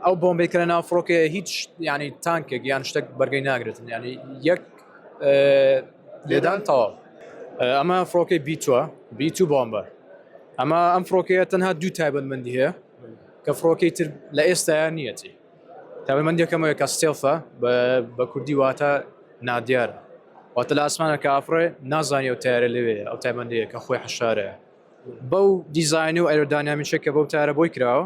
ئەو بۆمبەی کە لە ناو فڕۆکەیە هیچ ینی تانکێک یان شتێک بەرگەی ناگرێتن ینی یەک لێدان تەواو ئەمە فڕۆکەی بیتوە بیت و بۆمبە ئەمە ئەم فڕۆکەیە تەنها دوو تایبەتمەندی هەیە کە فڕۆکەی تر لە ئێستایا نیەتی تایبەتمەندیەکەمەوە کە ستێڵفە بە کوردی واتە نادیار واتە لە ئاسمانە کە ئافرێ نازانانی ئەو تارە لەوێ ئەو تایبەندەیە کە خۆی حەشارەیە بەو دیزین و ئەرۆدانامیشە کە بەو تارە بۆی کراوە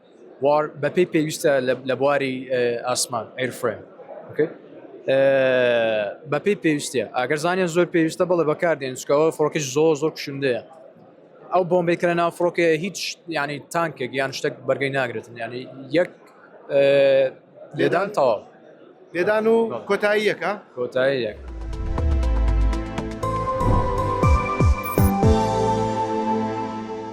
وار بەپێی پێویستە لە بواری ئاسمان ئەیرفرێم بەپێی پێویستە ئەگەر زانیان زۆر پێویستە بەڵێ بەکاردێن چکەوە فڕۆکەش زۆر زۆر کوشندەیە ئەو بۆمبی کە لە ناو فڕۆکێ هیچ ینی تانکێک یان شتێک بەرگەی ناگرێتن ینی یەک لێدان تەواو لێدان و کۆتایی یەکە کۆتایی یەک.